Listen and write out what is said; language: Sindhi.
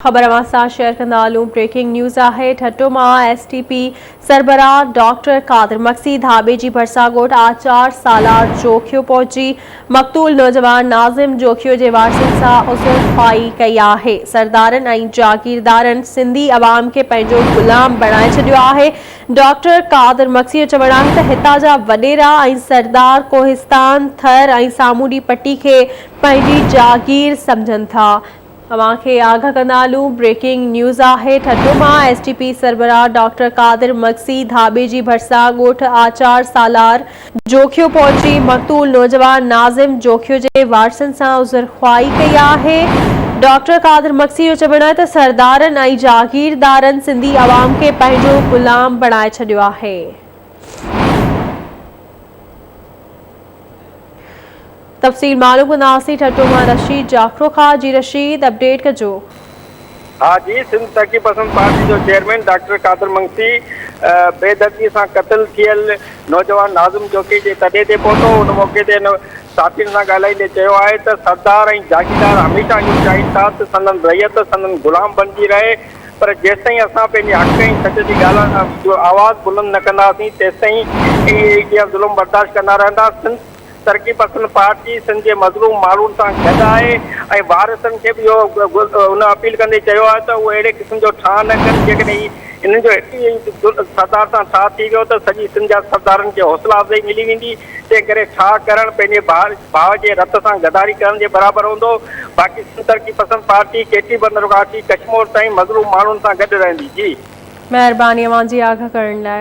خبر اوهان سان شيئر ڪندا هلون بريڪنگ نيوز آهي ٺٽو مان ايس ٽي پي سربراهه ڊاڪٽر قادر مگسي ڌاٻي جي ڀرسان ڳوٺ آچار سالار جوکيو پهچي مقتول نوجوان ناظم جوکيو جي وارثن سان عذر خواهي ڪئي آهي سردارن ۽ جاگيردارن سنڌي عوام کي پنهنجو غلام بڻائي ڇڏيو آهي ڊاڪٽر قادر مگسي جو چوڻ آهي ته هتان جا وڏيرا ۽ سردار ڪوهستان ٿر ۽ سامونڊي پٽي کي پنهنجي جاگير سمجهن ٿا اوهان کي آگاهه ڪندا هلون بريڪنگ نيوز آهي ٺٽو مان ايس ٽي پي سربراهه ڊاڪٽر قادر مگسي ڌاٻي جي ڀرسان ڳوٺ آچار سالار جوکيو پهچي مقتول نوجوان ناظم جوکيو جي وارثن سان عذر خواهي ڪئي آهي ڊاڪٽر قادر مگسي جو چوڻ آهي ته سردارن ۽ جاگيردارن سنڌي عوام کي پنهنجو غلام بڻائي ڇڏيو آهي. تفصيل معلوم ڪنداسين ٺٽو مان رشيد جاکرو کان جي رشيد اپڊيٽ ڪجو. ها جي سنڌ ترقي پسند پارٽي جو چيئرمين ڊاڪٽر قادر منگسي بي دردي سان قتل ٿيل نوجوان ناظم جوکي جي تڏي تي پهتو ان موقعي تي هن صحافين سان ڳالهائيندي چيو آهي ته سردار ۽ جاگيردار هميشه اهو چاهين ٿا ته سندن رعيت سندن غلام بڻجي رهي پر جيستائين اسان پنهنجي حق ۽ سچ جي ڳالهه جو آواز بلند نه ڪنداسين تيستائين اهي ظلم برداشت ڪندا رهندا سنڌ ترقي پسند پارٽي سنڌ جي مظلوم ماڻهن سان گڏ آهي ۽ وارثن کي به اهو ان اپيل ڪندي چيو آهي ته اهو اهڙي قسم جو ٺاهه نه ڪن جيڪڏهن هي انهن جو هڪ ئي سردار سان ٺاهه ٿي ويو ته سڄي سنڌ جا سردارن کي حوصلا افزائي ملي ويندي تنهن ڪري ٺاهه ڪرڻ پنهنجي ڀاء جي رت سان غداري ڪرڻ جي برابر هوندو باقي سنڌ ترقي پسند پارٽي ڪيٽي بندر کان اچي ڪشمور تائين مظلوم ماڻهن سان گڏ رهندي جي مهرباني اوهان جي آگهه ڪرڻ لاء.